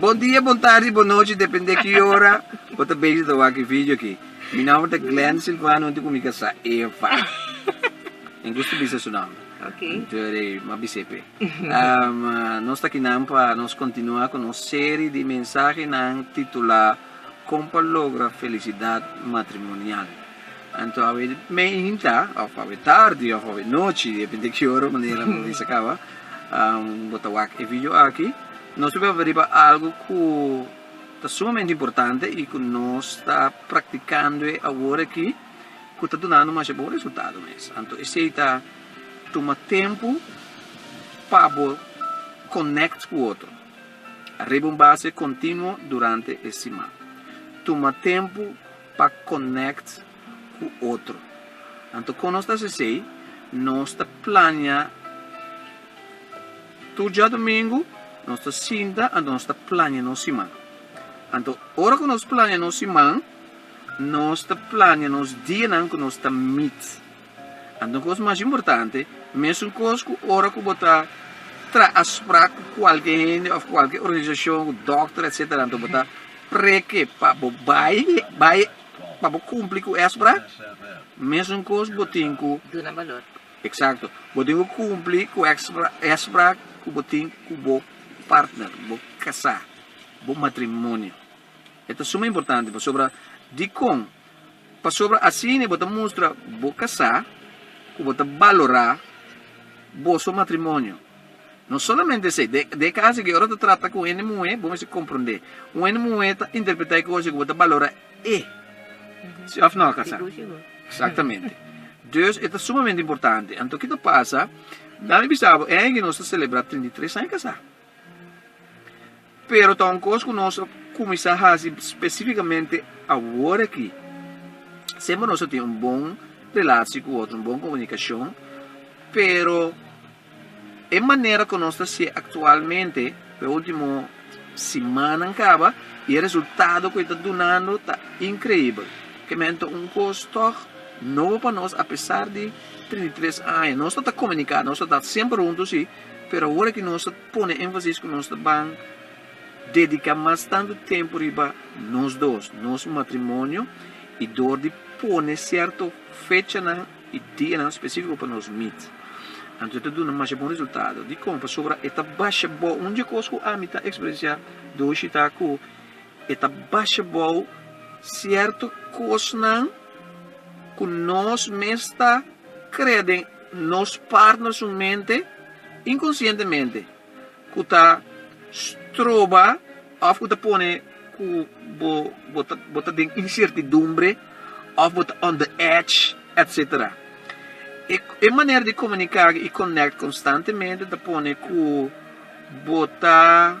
Bon dia, bon tardi, bon nochi depende ki ora bo ta bezi ta wak e video aki. Mi nomber ta Glen Silvano huntu ku mi ta sa Eva. Mi gusta bisa su nomber. Huntu e rei mas bis'é p'e. Nos ta akinan pa nos kontinua ku nos seri di mensahenan titulá Kon pa logra felisidad matrimonial. Anto awe meinta of awe tardi of awe nochi depende ki ora manera nan bisa kaba bo ta wak e video aki nos lo beba riba algo ku ta sumamente importante i ku nos ta praktikando awor aki ku ta dunando masha bon resultado mes anto esei ta tuma tempu pa bo konekt ku otro ariba un base kontinuo durante e siman tuma tempu. pa connect cu otro. Anto con nos ta haci esey, nos ta plania tur djadomingo, nos ta sinta, anto nos ta plania nos siman. Anto ora cu nos plania nos siman, nos ta plania nos dianan cu nos ta meet. Anto kos mas importante, mesunkos ku ora ku bo ta traha sprak ku kualke hende òf kualke organisashon, ku dòkter etsetera, anto bo ta preke pa bo bai bai pa bo kumpli ku e sprak, mesunkos bo tin ku Duna balor. Eksakto. Bo tin ku kumpli ku e e sprak ku bo tin ku bo partner, ku bo kasá, bo matrimonio. E ta suma importante pasobra dikon? Pasobra asina bo ta mustra bo kasá ku bo ta balorá boso matrimonio. No solamente esei, den e kas aki ora bo ta trata ku un hende muhé, bo mester komprondé un hende muhé ta interpretá e kos ei ku bo ta balorá e. Si òf nò, Kasa? Eksaktamente. Dus e ta sumamente importante. Anto kiko ta pasa? Dal mi bisa bo e aña aki nos ta selebrá trinta i tres aña kasá. Pero ta un kos ku nos a kuminsá hasi spesífikamente awor aki. Semper nos a tin un bon relashi ku otro, un bon komunikashon, pero e manera ku nos ta hasié aktualmente pa e último simannan kaba i e resultado ku e ta dunando ta inkreibel. Ke menen ta un kos tòg nobo pa nos apesar di trinta i tres aña. Nos ta ta komuniká, nos ta ta semper huntu sí. Pero awor aki nos ta pone énfasis ku nos ta ban dediká mas tantu tempu riba nos dos, nos matrimonio i dor di pone sierto fechanan i dianan spesífiko pa nos mit. Anto e ta duna masha bon resultado. Dikon? Pasobra e ta basha bo un dje kos ku ami ta eksperensiá dor shitá ku. E ta basha bou sierto cosnan cu nos mes ta crea den nos part na su mente inconscientemente cu ta stroba of cu ta pone cu bo bo ta den incertidumbre of bo ta on the edge etc. E manera di comunica y connect constantemente ta pone cu bo ta.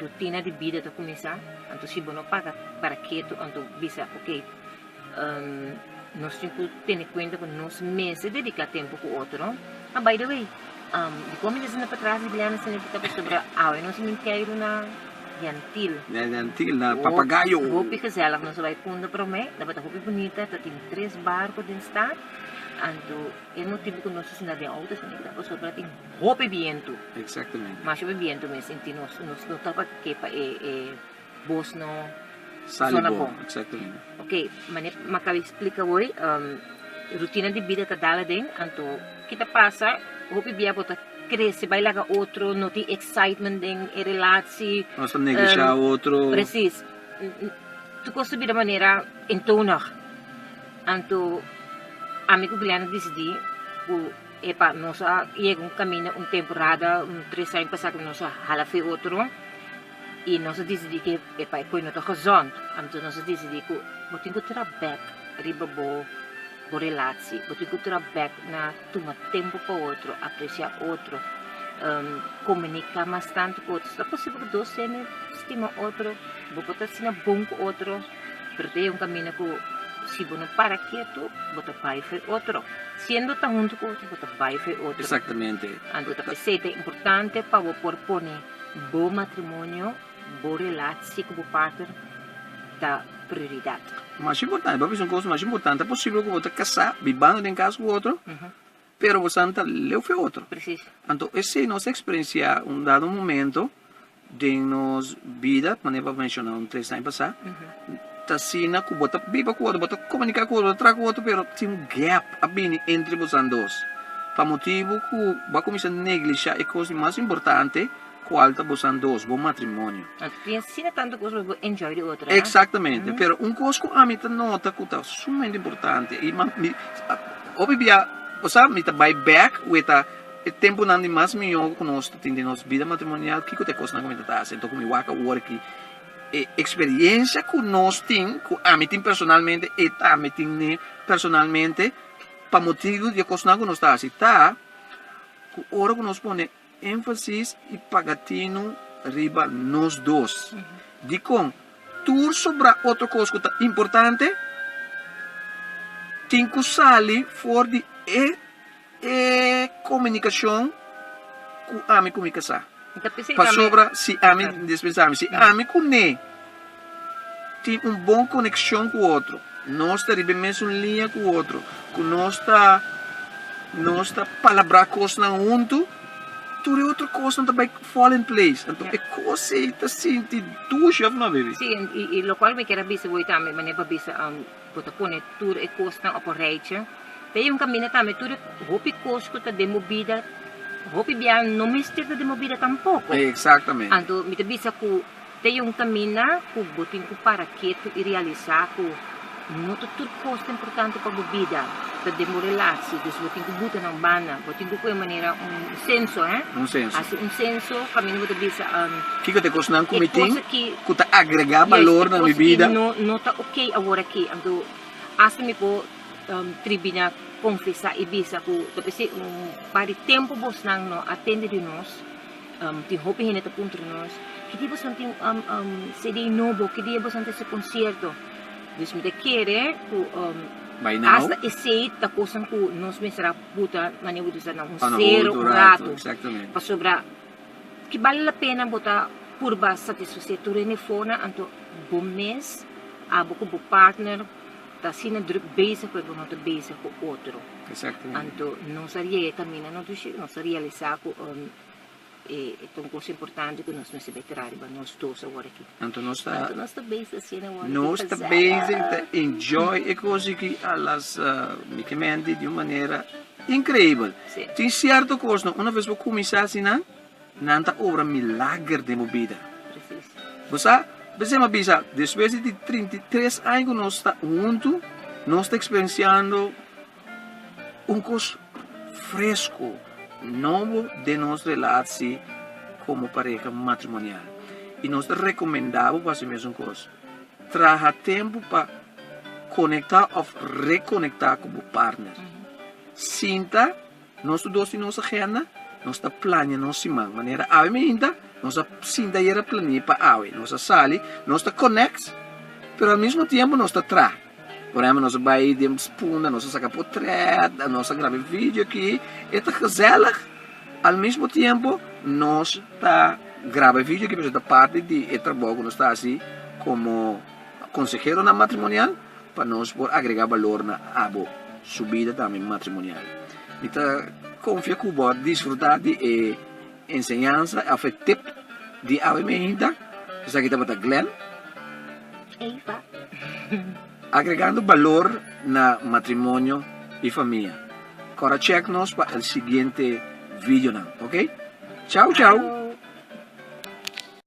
Rutina di bida ta kuminsá, anto si bo no para para ketu anto bisa ok nos tin ku tene kuenta ku nos mester dediká tempu ku otro. A by the way, dikon mi ta sinti patras di bianan signifiká pasobra awe nos a intèru na yantil, hopi gezèlig nos a bai punta promé, tabata hopi bunita, tabatin tres barko den stad, anto e motibu ku nos a sinta den outo signifiká pasobra tin. Hopi bientu. Exactamente. Masha hopi bientu mes y nos nos no tapa ke pa e e bos no Sali sona bon. bon. Exactamente. Ok, mane Macabi explica hoy, um, rutina di bida ta dal aden, anto ki ta pasa, hopi bia bo ta crece, bai laga otro, no tin excitement den e relaci, Nos ta neglishá um, otro. Precies. N- n- Tur cos ta bira manera eentonig. Anto, ami cu Glenn a dicidi cu E pa nos a yega un kaminda un temporada, un tres aña pasá ku nos a hala fe otro i nos a disidí ku e pa e koe no ta gezond. Anto nos a disidí ku bo tin ku tra bèk riba bo bo relatsie, bo tin ku tra bèk na tuma tempu pa otro, apresiá otro, komuniká mas tantu ku otro. Ta posibel ku dos hende stima otro, bo por ta asina bon ku otro. pero ta e un kaminda ku si bo no para ketu bo ta bai for e otro, siendo ta huntu ku otro bo ta bai for e otro, anto ta p'esei ta importante pa bo por pone bo matrimonio, bo relatsie ku bo partner ta prioridat. Mas importante, bo a bisa un kos mas importante, ta posibel ku bo ta kasá bibando den kas ku otro? Pero bosan ta leu fe otro. Anto esei nos eksperensiá un dado momento den nos bida, manera pa menshoná un tres aña pasá, ta asina ku bo ta biba ku otro, bo ta komuniká ku otro, bo ta traha ku otro pero tin un gèp a bini entre bosan dos pa motibu ku bo a kuminsá neglishá e kos di mas importante Cual ta bosan dos bo matrimonio? Tin sina tanto cos pa bo enjoy di otro, a? Exactamente. Pero un cos cu ami ta nota cu ta sumamente importante y man, mi, hopi bia, bo sa, mi ta bay back weta e temponan di mas miho cu nos ta tin den nos bida matrimonial, kico ta e cosnan cu mi ta ta haci. Anto cu mi wak awor aki, e experiencia cu nos tin, cu ami tin personalmente, e tambe tin ne personalmente, pa motibu di e cosnan cu nos ta haci, ta cu ora cu nos pone. Énfasis i pagatinu riba nos dos. Dikon? Tur sobrá otro kos ku ta importante tin ku sali for di e e komunikashon ku ami ku mi kasá. Pasobra si ami, despues ami, si ami ku Neé. tin un bon konekshon ku otro, nos ta riba e mesun liña ku otro, ku nos ta nos ta palabrá kosnan huntu, tur e otro kosnan ta bai fall in place. Anto e kos ei ta sinti dushi, òf no, Baby? Sí, i i lokual ku mi kier a bisa bo ei tambe manera ku bo a bisa bo ta pone tur e kosnan òp un reichi. P'e un kaminda tambe tur e hopi kos ku ta den bo bida, hopi biaha no mester ta den bo bida tampoko. Exactamente. Anto mi ta bisa ku. Te un kaminda ku bo tin ku para ketu i realisá ku no ta tur kos ta importante pa bo bida, ta den bo relashi. Dus bo tin ku buta nan banda. Bo tin ku kohe manera un senso, eh? Un senso. Hasi un senso kaminda bo ta bisa, um. Kiko ta e kosnan ku mi tin ku ta agregá balor na mi bida? Yes, e kos ki no ta okay awor aki. Anto hasta mi por tribina konfesá i bisa ku ta pesei un par di tempu bosnan no a tende di nos. Tin hopi hende ta puntra nos, Ki dia boson tin un CD nobo? Ki dia boson ta hasi konsierto? Dus mi ta kere ku asta esei ta kosnan ku nos mester a buta mane bo ta usa nan, un sero, un ratu. Pasobra ki bali la pena bo ta purba satisfasé tur hende for nan, anto bo mes, abo ku bo partner. Ta asina druk bezig ku e ku no ta bezig ku otro. Anto nos a yega e kaminda no dushi ku nos a realisá ku e ta un kos importante ku nos mester bai traha riba nos dos awor aki. Anto nos ta bezig asina awor aki. Nos ta bezig ta enjoy e kos aki alas mikimente di un manera inkreibel. Tin sierto kosnan una bes bo kuminsá asina. Nan ta obra milager den bo bida. Bo sa? Besema bisa, despues di trinta i tres aña ku nos ta huntu, nos ta eksperensiando un kos fresku, nobo den nos relatsi komo pareha matrimonial. I nos ta rekomendá bo pa hasi mesun kos. Traha tempu pa konektá òf rekonektá ku bo partner. Sinta. Nos tur dos tin nos agenda, nos ta plania nos siman manera awe mainta nos a sinta ayer a plania pa awe, nos a sali, nos ta konek pero al mismo tiempo nos ta traha, por ehempel nos a bai den spunda nos a saka potrèt a nos a graba e video aki e ta gezèlig al mismo tiempo nos ta graba e video aki pasobra e ta parti di e trabou ku nos ta hasi komo konseheronan matrimonial. pa nos por agrega balor na abo su bida tambe matrimonial. Mi ta confia cu bo a disfruta di e enseñansa of e tip di awe mainta. Esaki tabata Glenn. Eva. Agregando balor na matrimonio y famia. Cora check nos pa el siguiente videonan, ok? Chao chao!